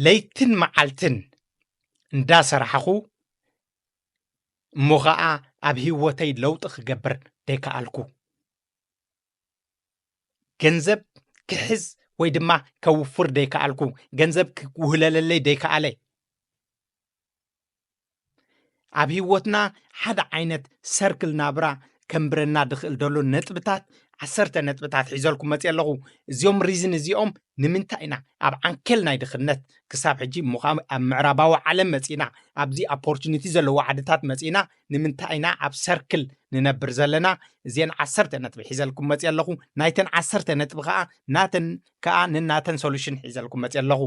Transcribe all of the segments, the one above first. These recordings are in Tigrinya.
ለይትን መዓልትን እንዳሰራሕኹ እሞ ኸዓ ኣብ ህይወተይ ለውጢ ክገብር ዘይከኣልኩ ገንዘብ ክሕዝ ወይ ድማ ከውፍር ዘይከኣልኩ ገንዘብ ክውህለለለይ ዘይከኣለ ኣብ ህይወትና ሓደ ዓይነት ሰርክል ናብራ ከንብረና ድኽእል ደሎ ነጥብታት ዓሰርተ ነጥብታት ሒዘልኩም መፅእ ኣለኹ እዚኦም ሪዝን እዚኦም ንምንታይ ኢና ኣብ ዓንኬል ናይ ድኽነት ክሳብ ሕጂ እሞ ከዓ ኣብ ምዕራባዊ ዓለም መፂና ኣብዚ ኣፖርቹኒቲ ዘለዎ ዓድታት መፂና ንምንታይ ኢና ኣብ ሰርክል ንነብር ዘለና እዚን ዓሰርተ ነጥቢ ሒዘልኩም መፅእ ኣለኹ ናይተን ዓሰርተ ነጥቢ ከዓ ናተን ከዓ ንናተን ሶሉሽን ሒዘልኩም መፅእ ኣለኹ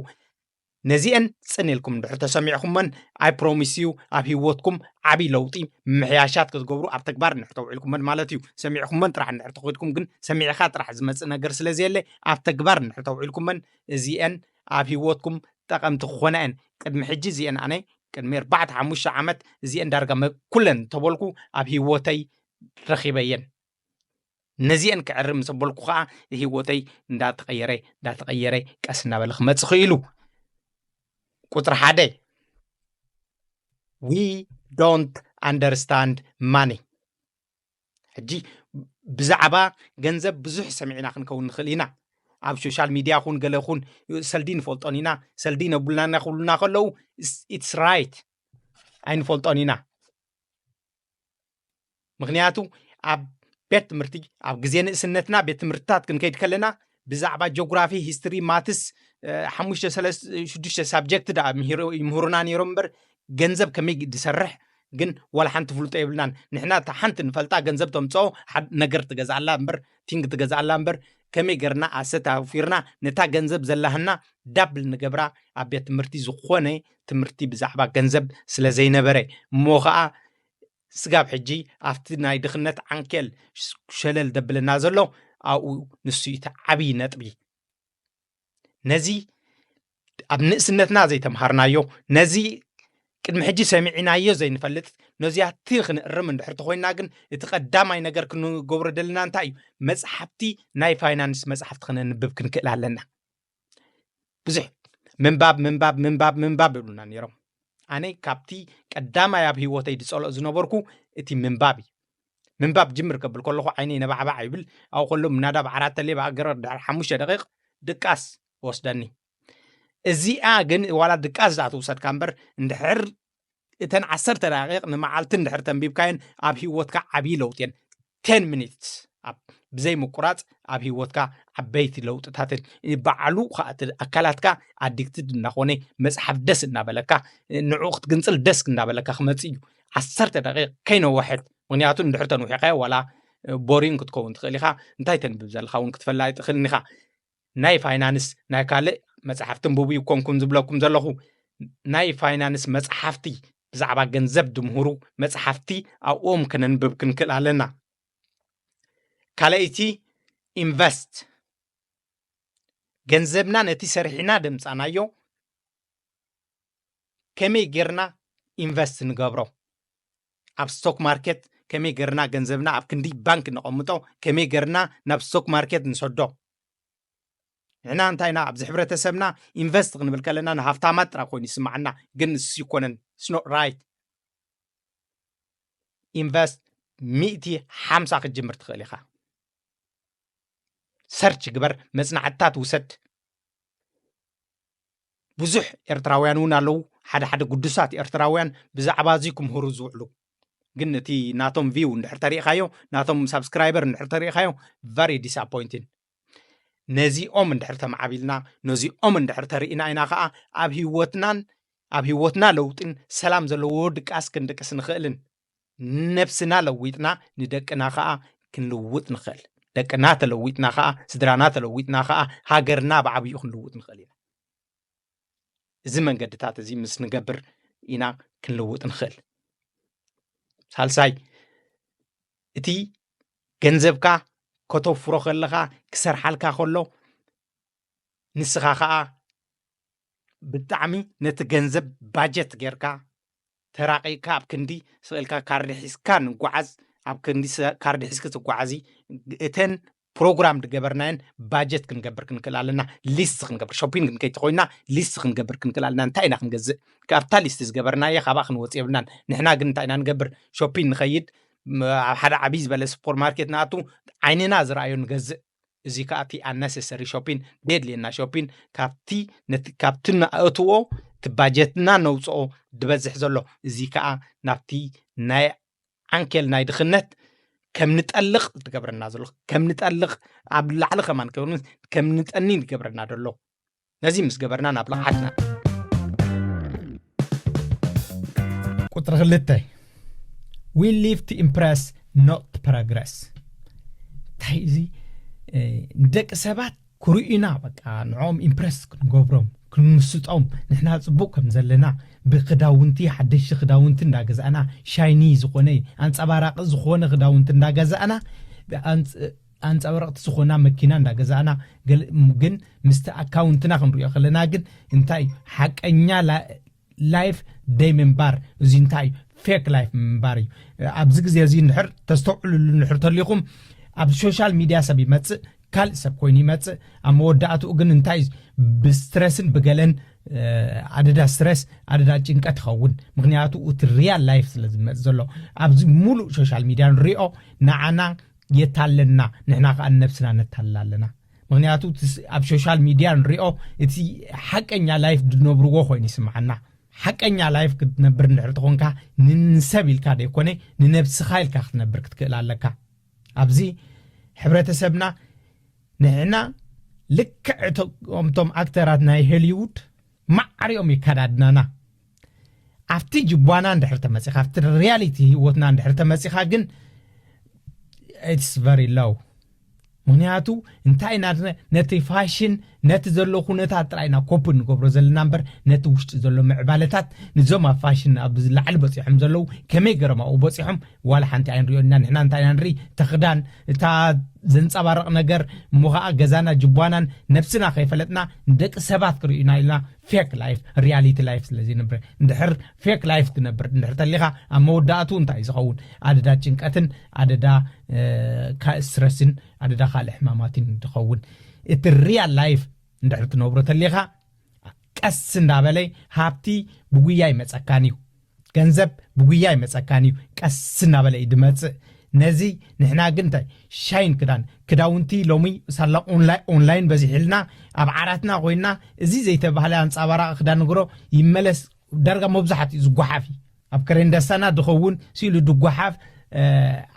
ነዚኤን ጽን ኢልኩም እንድሕር ተሰሚዕኹመን ኣይ ፕሮሚስ ዩ ኣብ ሂወትኩም ዓብይ ለውጢ ምምሕያሻት ክትገብሩ ኣብ ተግባር እንድሕር ተውዒልኩመን ማለት ዩ ሰሚዕኹመን ጥራሕ እንድሕር ተኾይድኩም ግን ሰሚዕኻ ጥራሕ ዝመጽእ ነገር ስለ ዘየለ ኣብ ተግባር እንድሕር ተውዒልኩመን እዚኤን ኣብ ሂወትኩም ጠቐምቲ ክኾና የን ቅድሚ ሕጂ እዚኤን ኣነ ቅድሚ ኣርባዕተ ሓሙሽተ ዓመት እዚኤን ዳርጋ ኩለን እንተበልኩ ኣብ ሂወተይ ረኺበየን ነዚኤን ክዕሪ ምስ ኣበልኩ ኸኣ ህይወተይ እንዳተቐየረ እንዳተቐየረ ቀስ እናበለ ክመጽእ ኽኢሉ። ቁጽሪ ሓደ ዊ ዶንት ኣንደርስታንድ ማኒ ሕጂ ብዛዕባ ገንዘብ ብዙሕ ሰሚዕና ክንከውን ንኽእል ኢና ኣብ ሶሻል ሚድያ ኹን ገለ ኹን ሰልዲ ንፈልጦን ኢና ሰልዲ ነብሉና ክብሉና ከለዉ ኢትስ ራይት ኣይንፈልጦን ኢና ምኽንያቱ ኣብ ቤት ትምህርቲ ኣብ ግዜ ንእስነትና ቤት ትምህርትታት ክንከይድ ከለና ብዛዕባ ጆግራፊ ሂስትሪ ማትስ ሓሙሽተ ሽዱሽተ ሳብጀክት ዳ ይምህሩና ነይሮም እምበር ገንዘብ ከመይ ዝሰርሕ ግን ዋላ ሓንቲ ፍልጦ የብልናን ንሕና እታ ሓንቲ ንፈልጣ ገንዘብ ተምፅኦ ነገር ትገዝኣላ እምበር ቲንግ ትገዝኣላ እምበር ከመይ ገርና ኣሰት ኣውፊርና ነታ ገንዘብ ዘላህና ዳብል ንገብራ ኣብ ቤት ትምህርቲ ዝኾነ ትምህርቲ ብዛዕባ ገንዘብ ስለ ዘይነበረ እሞ ከዓ ስጋብ ሕጂ ኣብቲ ናይ ድኽነት ዓንኬል ሸለል ደብለና ዘሎ ኣብኡ ንሱ እዩ እቲ ዓብዪ ነጥቢ ነዚ ኣብ ንእስነትና ዘይተምሃርናዮ ነዚ ቅድሚ ሕጂ ሰሚዕናዮ ዘይንፈልጥ ነዚኣቲ ክንእርም እንድሕር ተኮይና ግን እቲ ቀዳማይ ነገር ክንገብሮ ደለና እንታይ እዩ መፅሓፍቲ ናይ ፋይናንስ መፅሓፍቲ ክነንብብ ክንክእል ኣለና ብዙሕ ምንባብ ምንባብ ምንባብ ምንባብ ይብሉና ነይሮም ኣነ ካብቲ ቀዳማይ ኣብ ሂወተይ ዝፀልኦ ዝነበርኩ እቲ ምንባብ እዩ ምንባብ ጅምር ከብል ከለኹ ዓይነይ ነባዕባዕ ይብል ኣብኡ ከሎ ምናዳብ ዓራት ተሌብ ኣገረ ድሕሪ ሓሙሽተ ደቂቕ ድቃስ ወስደኒ እዚኣ ግን ዋላ ድቃስ ዝኣ ትውሰድካ እምበር እንድሕር እተን ዓሰርተ ደቂቕ ንመዓልቲ እንድሕር ተንቢብካየን ኣብ ሂወትካ ዓብዪ ለውጢ እየን ቴን ሚኒትስ ብዘይ ምቁራፅ ኣብ ሂወትካ ዓበይቲ ለውጥታት በዓሉ ከዓ እቲ ኣካላትካ ኣዲክትድ እናኾነ መፅሓፍ ደስ እናበለካ ንዕኡ ክትግንፅል ደስ እናበለካ ክመፅእ እዩ ዓሰርተ ደቂቕ ከይነወሐት ምክንያቱ እንድሕር ተንዊሕካዮ ዋላ ቦሪን ክትከውን ትኽእል ኢኻ እንታይ ተንብብ ዘለካ እውን ክትፈላ ኣይትኽእልን ኢኻ ናይ ፋይናንስ ናይ ካልእ መጽሓፍቲ እንቡቡ ኣይኮንኩን ዝብለኩም ዘለኹ ናይ ፋይናንስ መጽሓፍቲ ብዛዕባ ገንዘብ ድምህሩ መጽሓፍቲ ኣብኦም ከነንብብ ክንክእል ኣለና ካልኣይቲ ኢንቨስት ገንዘብና ነቲ ሰሪሕና ደምጻናዮ ከመይ ጌርና ኢንቨስት ንገብሮ ኣብ ስቶክ ማርኬት ከመይ ገርና ገንዘብና ኣብ ክንዲ ባንክ ነቐምጦ ከመይ ገርና ናብ ስቶክ ማርኬት ንሰዶ ንሕና እንታይ ኢና ኣብዚ ሕብረተሰብና ኢንቨስት ክንብል ከለና ንሃፍታማት ጥራይ ኮይኑ ይስምዓና ግን ንሱ ይኮነን ስኖ ራይት ኢንቨስት ሚእቲ ሓምሳ ክትጅምር ትኽእል ኢኻ ሰርች ግበር መፅናዕትታት ውሰድ ብዙሕ ኤርትራውያን እውን ኣለዉ ሓደ ሓደ ግዱሳት ኤርትራውያን ብዛዕባ እዚ ክምህሩ ዝውዕሉ ግን እቲ ናቶም ቪው እንድሕር ተሪኢኻዮ ናቶም ሳብስክራይበር እንድሕር ተሪኢኻዮ ቨሪ ዲስኣፖይንቲን ነዚኦም እንድሕር ተማዓቢልና ነዚኦም እንድሕር ተርኢና ኢና ከዓ ኣብ ህይወትናን ኣብ ህይወትና ለውጢን ሰላም ዘለዎ ድቃስ ክንድቅስ ንኽእልን ነብስና ለዊጥና ንደቅና ኸኣ ክንልውጥ ንኽእል። ደቅና ተለዊጥና ኸኣ፣ ስድራና ተለዊጥና ኸኣ፣ ሃገርና ብዓብይኡ ክንልውጥ ንኽእል ኢና። እዚ መንገድታት እዚ ምስ ንገብር ኢና ክንልውጥ ንኽእል። ሳልሳይ እቲ ገንዘብካ ከተፍሮ ከለኻ ክሰርሓልካ ከሎ ንስኻ ኸኣ ብጣዕሚ ነቲ ገንዘብ ባጀት ጌርካ ተራቂቅካ ኣብ ክንዲ ስቅ ኢልካ ካርዲ ሒዝካ ንጓዓዝ ኣብ ክንዲ ካርዲ ሒዝኪ ትጓዓዚ እተን ፕሮግራም ዝገበርናየን ባጀት ክንገብር ክንክእል ኣለና ሊስት ክንገብር ሾፒንግ ክንከይድ ተኮይና ሊስት ክንገብር ክንክእል ኣለና እንታይ ኢና ክንገዝእ ካብታ ሊስት ዝገበርናየ ካብኣ ክንወፅ የብልናን ንሕና ግን እንታይ ኢና ንገብር ሾፒን ንኸይድ ኣብ ሓደ ዓብይ ዝበለ ሱፐር ማርኬት ንኣቱ ዓይንና ዝረኣዮ ንገዝእ እዚ ከዓ እቲ ኣነሰሰሪ ሾፒን ደየድልየና ሾፒን ካብቲ ነቲ ካብቲ ንኣእትዎ እቲ ባጀትና ነውፅኦ ዝበዝሕ ዘሎ እዚ ከዓ ናብቲ ናይ ዓንኬል ናይ ድኽነት ከም ንጠልቕ ዝገብረና ዘሎ ከም ንጠልቕ ኣብ ላዕሊ ከማን ከም ንጠኒ ዝገብረና ዘሎ ነዚ ምስ ገበርና ናብ ልቕዓትና ቁፅሪ ክልተ ዊ ሊቭ ቱ ኢምፕረስ ኖት ፕሮግረስ እንታይ እዚ ንደቂ ሰባት ኩርኢና በቃ ንዕኦም ኢምፕረስ ክንገብሮም ክንምስጦም ንሕና ፅቡቅ ከም ዘለና ብክዳውንቲ ሓደሽቲ ክዳውንቲ እንዳገዛእና ሻይኒ ዝኾነ ኣንፀባራቂ ዝኾነ ክዳውንቲ እንዳገዛእና ኣንጻባረቅቲ ዝኮና መኪና እንዳ ገዛእና ግን ምስቲ ኣካውንትና ክንሪኦ ከለና ግን እንታይ እዩ ሓቀኛ ላይፍ ደይ ምንባር እዚ እንታይ እዩ ፌክ ላይፍ ምንባር እዩ ኣብዚ ግዜ እዚ ንድሕር ተስተውዕልሉ ንድሕር ተሊኹም ኣብ ሶሻል ሚድያ ሰብ ይመጽእ ካልእ ሰብ ኮይኑ ይመጽእ ኣብ መወዳእትኡ ግን እንታይ እዩ ብስትረስን ብገለን ኣደዳ ስትረስ ኣደዳ ጭንቀት ይኸውን ምክንያቱ እቲ ሪያል ላይፍ ስለ ዝመፅ ዘሎ ኣብዚ ሙሉእ ሶሻል ሚድያ ንሪኦ ንዓና የታለና ንሕና ከኣ ንነብስና ነታልላ ኣለና ምክንያቱ ኣብ ሶሻል ሚድያ ንሪኦ እቲ ሓቀኛ ላይፍ ድነብርዎ ኮይኑ ይስምዓና ሓቀኛ ላይፍ ክትነብር እንድሕር ተኾንካ ንሰብ ኢልካ ዘይኮነ ንነብስኻ ኢልካ ክትነብር ክትክእል ኣለካ ኣብዚ ሕብረተሰብና ንሕና ልክዕ እቶምቶም ኣክተራት ናይ ሆሊውድ ማዕሪኦም የከዳድናና ኣብቲ ጅቧና እንድሕር ተመፂኻ ኣብቲ ሪያሊቲ ህይወትና እንድሕር ተመፂኻ ግን ኢትስ ቨሪ ሎው ምክንያቱ እንታይ ኢና ነቲ ፋሽን ነቲ ዘሎ ኩነታት ጥራይ ኢና ኮፕ ንገብሮ ዘለና እምበር ነቲ ውሽጢ ዘሎ ምዕባለታት ንዞም ኣብ ፋሽን ኣብ ላዕሊ በፂሖም ዘለዉ ከመይ ገሮም ኣብኡ በፂሖም ዋላ ሓንቲ ኣይንሪኦ ኢና ንሕና እንታይ ኢና ንርኢ ተኽዳን እታ ዘንፀባርቕ ነገር እሞ ከዓ ገዛና ጅቧናን ነብስና ከይፈለጥና ንደቂ ሰባት ክርእዩና ኢልና ፌክ ላይፍ ሪያሊቲ ላይፍ ስለ ዘይነብረ እንድሕር ፌክ ላይፍ ትነብር እንድሕር ተሊኻ ኣብ መወዳእቱ እንታይ እዩ ዝኸውን ኣደዳ ጭንቀትን ኣደዳ ካልእ ስትረስን ኣደዳ ካልእ ሕማማትን ዝኸውን እቲ ሪያል ላይፍ እንድሕር ትነብሮ ተሊኻ ቀስ እንዳበለ ሃብቲ ብጉያ ይመፀካን እዩ ገንዘብ ብጉያ ኣይመጸካን እዩ ቀስ እናበለ እዩ ድመጽእ ነዚ ንሕና ግን እንታይ ሻይን ክዳን ክዳውንቲ ሎሚ ሳላ ኦንላይን በዚሕልና ኣብ ዓራትና ኮይና እዚ ዘይተባህለ ኣንጻባራቂ ክዳን ንግሮ ይመለስ ዳርጋ መብዛሕትኡ ዝጓሓፍ እዩ ኣብ ከሬንደሳና ድኸውን ስኢሉ ድጓሓፍ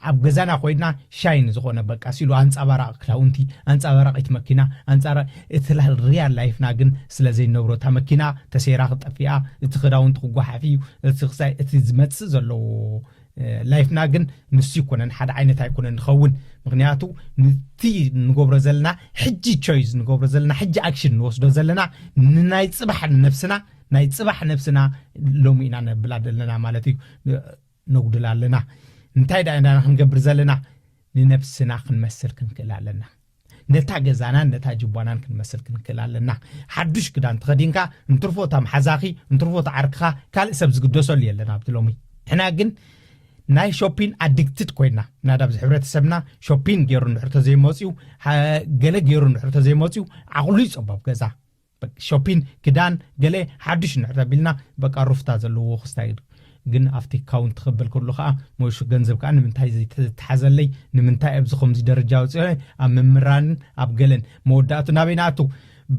ኣብ ገዛና ኮይና ሻይን ዝኾነ በቃ ሲሉ ኣንጻባራቂ ክዳውንቲ ኣንጻባራቂት መኪና ኣንጻራ እቲ ሪያል ላይፍና ግን ስለ ዘይነብሮ እታ መኪና ተሰይራ ክጠፊኣ እቲ ክዳውንቲ ክጓሓፍ እዩ እቲ ክሳይ እቲ ዝመጽእ ዘለዎ ላይፍና ግን ንሱ ይኮነን ሓደ ዓይነት ኣይኮነን ንኸውን ምክንያቱ ንቲ ንገብሮ ዘለና ሕጂ ቾይዝ ንገብሮ ዘለና ሕጂ ኣክሽን ንወስዶ ዘለና ንናይ ጽባሕ ነብስና ናይ ጽባሕ ነብስና ሎሚ ኢና ነብላ ዘለና ማለት እዩ ነጉድል ኣለና እንታይ ድኣ ኢና ክንገብር ዘለና ንነብስና ክንመስል ክንክእል ኣለና ነታ ገዛናን ነታ ጅቧናን ክንመስል ክንክእል ኣለና ሓዱሽ ክዳን ተኸዲንካ እንትርፎ እታ መሓዛኺ እንትርፎ እታ ዓርክኻ ካልእ ሰብ ዝግደሰሉ የለን ኣብቲ ሎሚ ንሕና ግን ናይ ሾፒን ኣድግትድ ኮይና ናዳ ኣብዚ ሕብረተሰብና ሾፒን ገይሩ እንድሕር ተዘይመፅኡ ገለ ገይሩ እንድሕር ተዘይመፅኡ ዓቕሉ ይፀበብ ገዛ በቃ ሾፒን ክዳን ገለ ሓዱሽ እንድሕር ተቢልና በቃ ሩፍታ ዘለዎ ክስታይ ኢሉ ግን ኣብቲ ካውንት ክብል ከሎ ከዓ ሞይሹ ገንዘብ ከዓ ንምንታይ ዘይተሓዘለይ ንምንታይ ኣብዚ ከምዚ ደረጃ ወፂኦ ኣብ ምምራንን ኣብ ገለን መወዳእቱ ናበይ ንኣቱ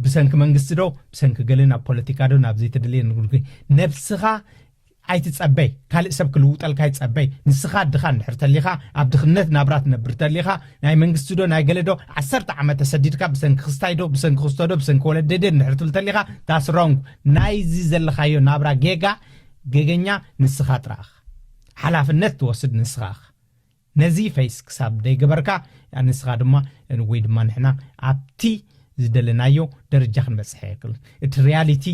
ብሰንኪ መንግስቲ ዶ ብሰንኪ ገለን ኣብ ፖለቲካ ዶ ናብ ዘይተደለየ ንጉልጉ ነብስኻ ኣይትጸበይ ካልእ ሰብ ክልውጠልካ ይጸበይ ንስኻ ድኻ እንድሕር ተሊኻ ኣብ ድኽነት ናብራ ትነብር ተሊኻ ናይ መንግስቲ ዶ ናይ ገለ ዶ ዓሰርተ ዓመት ተሰዲድካ ብሰንኪ ክስታይ ዶ ብሰንኪ ክስቶ ዶ ብሰንኪ ወለደይ ዶ እንድሕር ትብል ተሊኻ ዳስ ሮንግ ናይዚ ዘለኻዮ ናብራ ጌጋ ጌገኛ ንስኻ ጥራኻ ሓላፍነት ትወስድ ንስኻ ነዚ ፈይስ ክሳብ ደይገበርካ ንስኻ ድማ ወይ ድማ ንሕና ኣብቲ ዝደለናዮ ደረጃ ክንበጽሕ ኣይክልን። እቲ ርያሊቲ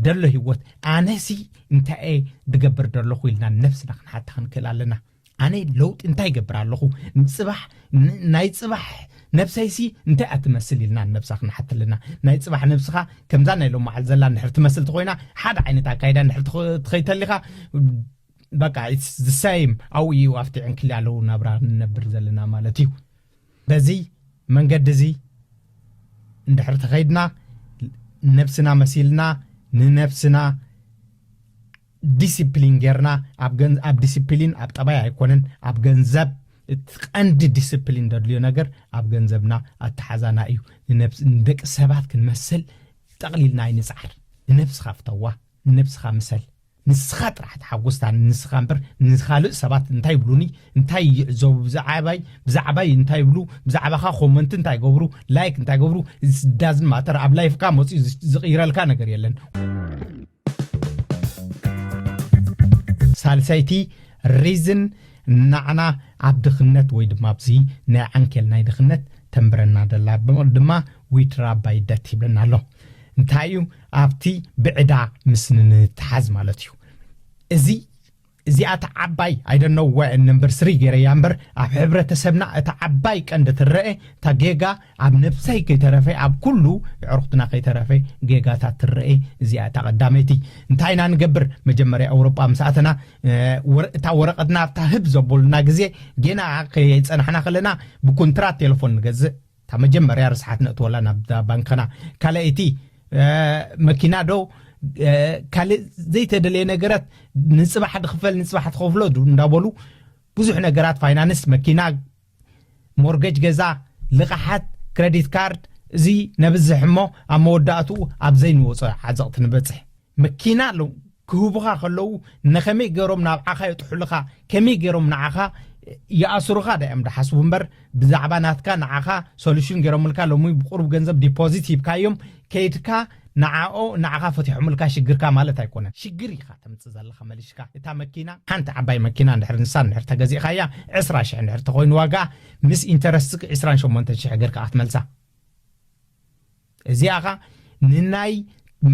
ደሎ ህይወት ኣነሲ እንታይ'የ ድገብር ደለኹ ኢልና ንነብስና ክንሓታ ክንክእል ኣለና። ኣነ ለውጢ እንታይ ይገብር ኣለኹ ንጽባሕ ናይ ጽባሕ ነብሰይሲ እንታይ እያ ትመስል ኢልና ንነብሳ ክንሓት ኣለና። ናይ ጽባሕ ነብስኻ ከምዛ ናይ ሎማዓል ዘላ እንድሕር ትመስል ተኾይና ሓደ ዓይነት ኣካይዳ እንድሕር ትኸይድ ተሊኻ በቃ ኢትስ ዘ ሰይም ኣብኡ እዩ ኣብቲ ዕንክልያለዉ ናብራ ንነብር ዘለና ማለት እዩ በዚ መንገዲ እዚ እንድሕር ተኸይድና ነብስና መሲልና ንነብስና ዲስፕሊን ጌርና ኣብ ዲስፕሊን ኣብ ጠባይ ኣይኮነን ኣብ ገንዘብ እቲ ቀንዲ ዲስፕሊን ዘድልዮ ነገር ኣብ ገንዘብና ኣተሓዛና እዩ ንደቂ ሰባት ክንመስል ጠቕሊልና ኣይንፅዓር ንነብስኻ ፍተዋ ንነብስኻ ምሰል ንስኻ ጥራሕ ተሓጎስታ ንስኻ እምበር ንኻልእ ሰባት እንታይ ይብሉኒ እንታይ ይዕዘቡ ብዛዕባይ ብዛዕባይ እንታይ ይብሉ ብዛዕባኻ ኮመንት እንታይ ይገብሩ ላይክ እንታይ ይገብሩ ዳዝን ማተር ኣብ ላይፍካ መፅኡ ዝቕይረልካ ነገር የለን ሳልሰይቲ ሪዝን ናዕና ኣብ ድኽነት ወይ ድማ ኣብዚ ናይ ዓንኬል ናይ ድኽነት ተንብረና ደላ ድማ ዊድራ ባይደት ይብለና ኣሎ እንታይ እዩ ኣብቲ ብዕዳ ምስ ንንትሓዝ ማለት እዩ እዚ እዚኣ እታ ዓባይ ኣይደነው ወ እንምብር ስሪ ገይረያ እምበር ኣብ ሕብረተሰብና እታ ዓባይ ቀንዲ ትረአ እታ ጌጋ ኣብ ነብሰይ ከይተረፈ ኣብ ኩሉ ዕርኩትና ከይተረፈ ጌጋታት ትረአ እዚኣ እታ ቀዳመይቲ እንታይ ኢና ንገብር መጀመርያ ኣውሮጳ ምስ ኣተና እታ ወረቀትና ኣብታ ህብ ዘቦሉና ግዜ ጌና ከየጸናሕና ከለና ብኩንትራት ቴሌፎን ንገዝእ እታ መጀመርያ ርስሓት ነእትወላ ናብዛ ባንከና ካልኣይቲ መኪና ዶ ካልእ ዘይተደለየ ነገራት ንፅባሕ ድኽፈል ንፅባሕ ትኸፍሎ እንዳበሉ ብዙሕ ነገራት ፋይናንስ መኪና ሞርገጅ ገዛ ልቓሓት ክረዲት ካርድ እዚ ነብዝሕ እሞ ኣብ መወዳእትኡ ኣብ ዘይንወፆ ዓዘቕቲ ንበፅሕ መኪና ኣለው ክህቡኻ ከለው ነኸመይ ገሮም ናብዓኻ የጥሑልኻ ከመይ ገሮም ንዓኻ ይኣስሩኻ ዳዮም ድሓስቡ እምበር ብዛዕባ ናትካ ንዓኻ ሶሉሽን ገሮምልካ ሎሚ ብቁሩብ ገንዘብ ዲፖዚት ሂብካዮም ከይድካ ንዓኦ ንዓኻ ፈቲሖምልካ ሽግርካ ማለት ኣይኮነን ሽግር ኢኻ ተምጽእ ዘለኻ መልሽካ እታ መኪና ሓንቲ ዓባይ መኪና እንድሕር ንሳ እንድሕር ተገዚእኻያ ዕስራ ሽሕ እንድሕር ተኾይኑ ዋጋኣ ምስ ኢንተረስትክ ዕስራን ሸሞንተን ሽሕ ገርካ ክትመልሳ እዚኣ ኸኣ ንናይ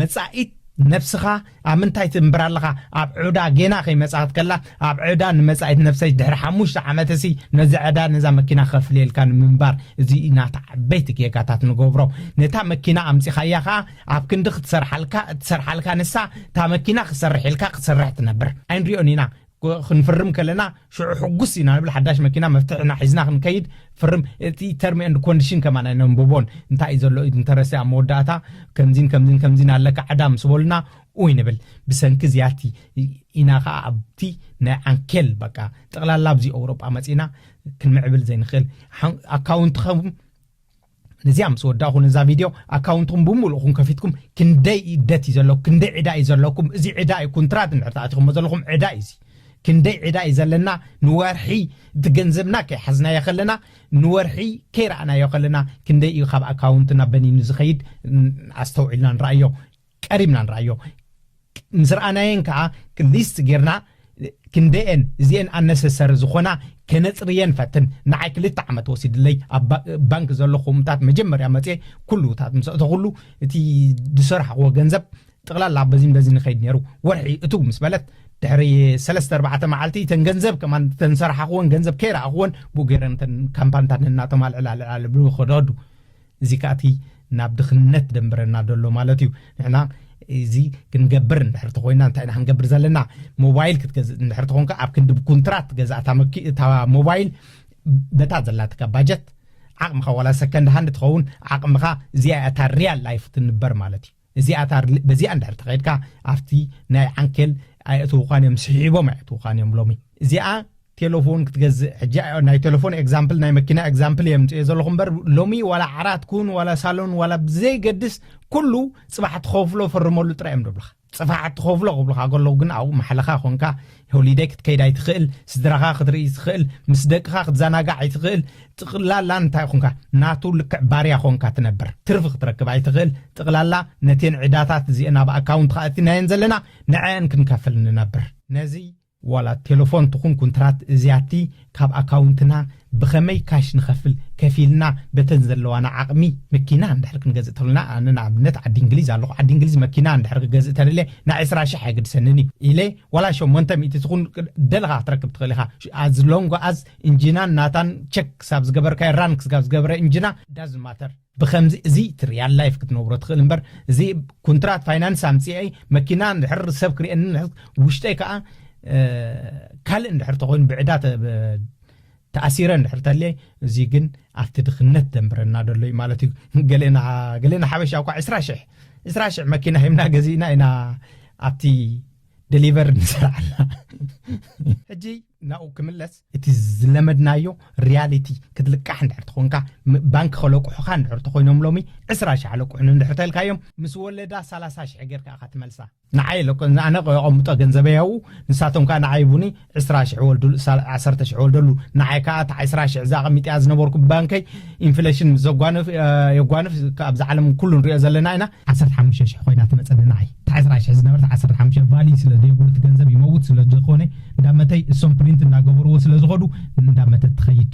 መጻኢት ነፍስኻ ኣብ ምንታይ ትንብር ኣለኻ ኣብ ዑዳ ጌና ከይመጽኣት ከላ ኣብ ዕዳ ንመጻኢት ነፍሰይ ድሕሪ ሓሙሽተ ዓመትሲ ነዚ ዕዳ ነዛ መኪና ከፍልየልካ ንምንባር እዚ ናታ ዓበይቲ ጌጋታት ንገብሮ ነታ መኪና ኣምጺኻያ ኸኣ ኣብ ክንዲ ክትሰርሓልካ እትሰርሓልካ ንሳ እታ መኪና ክሰርሕ ኢልካ ክትሰርሕ ትነብር ኣይንሪኦን ኢና ክንፍርም ከለና ሽዑ ሕጉስ ኢና ንብል ሓዳሽ መኪና መፍትሕና ሒዝና ክንከይድ ፍርም እቲ ተርም ኤንድ ኮንዲሽን ከማን ኣይነንብቦን እንታይ እዩ ዘሎ ኢድ እንተረሰ ኣብ መወዳእታ ከምዚን ከምዚን ከምዚን ኣለካ ዕዳ ምስ በሉና ኡይ ንብል ብሰንኪ እዚኣቲ ኢና ከዓ ኣብቲ ናይ ዓንኬል በቃ ጠቕላላ ኣብዚ ኣውሮጳ መፂና ክንምዕብል ዘይንኽእል ኣካውንትኸም ነዚኣ ምስ ወዳእኹ ነዛ ቪድዮ ኣካውንትኩም ብምሉእኹም ከፊትኩም ክንደይ እዩ ደት እዩ ዘለኩም ክንደይ ዕዳ እዩ ዘለኩም እዚ ዕዳ እዩ ኩንትራት እንድሕር ተኣቲኹሞ ዘለኹም ዕዳ እዩ እዚ ክንደይ ዕዳ እዩ ዘለና ንወርሒ እቲ ገንዘብና ከይሓዝናዮ ከለና ንወርሒ ከይረኣናዮ ከለና ክንደይ እዩ ካብ ኣካውንትና በኒኑ ዝኸይድ ኣስተውዒልና ንረኣዮ ቀሪብና ንርኣዮ ምስ ረኣናየን ከኣ ሊስት ጌርና ክንደየን እዚኤን ኣነሰሰሪ ዝኾና ከነጽርየን ፈትን ንዓይ ክልተ ዓመት ወሲድለይ ኣብ ባንክ ዘሎ ኮምታት መጀመርያ መጽ ኩሉታት ምስ እተኹሉ እቲ ዝሰርሓኽዎ ገንዘብ ጥቕላላ በዚን በዚ ንኸይድ ነይሩ ወርሒ እቱ ምስ በለት ድሕሪ ሰለስተ ኣርባዕተ መዓልቲ እተን ገንዘብ ከማን እተን ሰራሓኽወን ገንዘብ ከይረኣኽወን ብኡ ገይረን እተን ካምፓንታት እናተማልዕላ ልዓል ብኸደዱ እዚ ከኣ እቲ ናብ ድኽነት ደንብረና ደሎ ማለት እዩ ንሕና እዚ ክንገብር እንድሕር ተኮይና እንታይ ኢና ክንገብር ዘለና ሞባይል ክትገዝእ እንድሕር ተኮንካ ኣብ ክንዲ ብኩንትራት ገዛ እታ ሞባይል በታ ዘላትካ ባጀት ዓቕምኻ ዋላ ሰከንድ ሃንድ ትኸውን ዓቕምኻ እዚኣ እታ ሪያል ላይፍ ትንበር ማለት እዩ እዚኣ ታር በዚኣ እንድሕር ተኸይድካ ኣብቲ ናይ ዓንኬል ኣየእትውኻን እዮም ስሒቦም ኣየእትውኻን እዮም ሎሚ እዚኣ ቴለፎን ክትገዝእ ሕጂ ናይ ቴለፎን ኤግዛምፕል ናይ መኪና ኤግዛምፕል እየ ምፅኦ ዘለኹ እምበር ሎሚ ዋላ ዓራት ኩን ዋላ ሳሎን ዋላ ብዘይገድስ ኩሉ ፅባሕ ትኸፍሎ ፈርመሉ ጥራይ እዮም ደብልኻ ፅፋሕ ትኸፍሎ ክብልኻ ከለዉ ግን ኣብኡ ማሕለኻ ኮንካ ሆሊደይ ክትከይድ ኣይትኽእል፣ ስድራኻ ክትርኢ ኣይትኽእል፣ ምስ ደቅኻ ክትዘናጋዕ ኣይትኽእል፣ ጥቕላላ እንታይ ኹንካ ናቱ ልክዕ ባርያ ኾንካ ትነብር፣ ትርፊ ክትረክብ ኣይትኽእል፣ ጥቕላላ ነቴን ዕዳታት እዚኤን ኣብ ኣካውንትኻ ኣእቲናየን ዘለና ንዐኣን ክንከፍል ንነብር፣ ነዚ ዋላ ቴለፎን ትኹን ኩንትራት እዚኣቲ ካብ ኣካውንትና ብኸመይ ካሽ ንኸፍል ከፊልና በተን ዘለዋና ዓቕሚ መኪና እንድሕር ክንገዝእ ተልና ኣነ ንኣብነት ዓዲ እንግሊዝ ኣለኹ ዓዲ እንግሊዝ መኪና እንድሕር ክገዝእ ተደልየ ናይ ዕስራ ሽሕ ኣይግድሰንን እዩ ኢለ ዋላ ሸሞንተ ሚእቲ ትኹን ደለኻ ክትረክብ ትኽእል ኢኻ ኣዝ ሎንጎ ኣዝ እንጂናን ናታን ቸክ ክሳብ ዝገበርካዮ ራን ክስጋብ ዝገብረ እንጂና ዳዝ ማተር ብከምዚ እዚ እቲ ርያል ላይፍ ክትነብሮ ትኽእል እምበር እዚ ኩንትራት ፋይናንስ ኣምፅኤ መኪና እንድሕር ሰብ ክርእየኒ ውሽጠይ ከዓ ካልእ እንድሕር ተኮይኑ ብዕዳ ተኣሲረ እንድሕር ተልየ እዚ ግን ኣብቲ ድኽነት ደንብረና ደሎ እዩ ማለት እዩ ገሌና ገሌና ሓበሻ እኳ ዕስራ ሽሕ ዕስራ ሽሕ መኪና ሂብና ገዚእና ኢና ኣብቲ ደሊቨር ንሰርዓልና ሕጂ ናብኡ ክምለስ እቲ ዝለመድናዮ ርያሊቲ ክትልቃሕ እንድሕር ተኾንካ ባንኪ ከለቁሑኻ እንድሕር ተኾይኖም ሎሚ ዕስራ ሽሕ ኣለቁሑኒ እንድሕር ተልካዮም ምስ ወለዳ ሰላሳ ሽሕ ጌርካ ኢኻ ትመልሳ ንዓይ ለኮ ኣነ የቐምጦ ገንዘበይ ኣብኡ ንሳቶም ከዓ ንዓይ ቡኒ ዕስራ ሽሕ ወልድሉ ዓሰርተ ሽሕ ወልደሉ ንዓይ ከዓ እታ ዕስራ ሽሕ እዛ ኣቐሚጢኣ ዝነበርኩ ባንከይ ኢንፍለሽን ምስ ዘጓንፍ የጓንፍ ኣብዚ ዓለም ኩሉ ንሪኦ ዘለና ኢና ዓሰርተ ሓሙሽተ ሽሕ ኮይና ትመፀኒ ንዓይ እቲ ዕስራ ሽሕ ዝነበረት ዓሰርተ ሓሙሽተ ቫሊ ስለ ዘየብሉ እቲ ገንዘብ ይመውት ስለ ዝኾነ እንዳመተይ እሶም ፕሪንት እንዳገበርዎ ስለ ዝኾዱ እንዳመተት ትኸይድ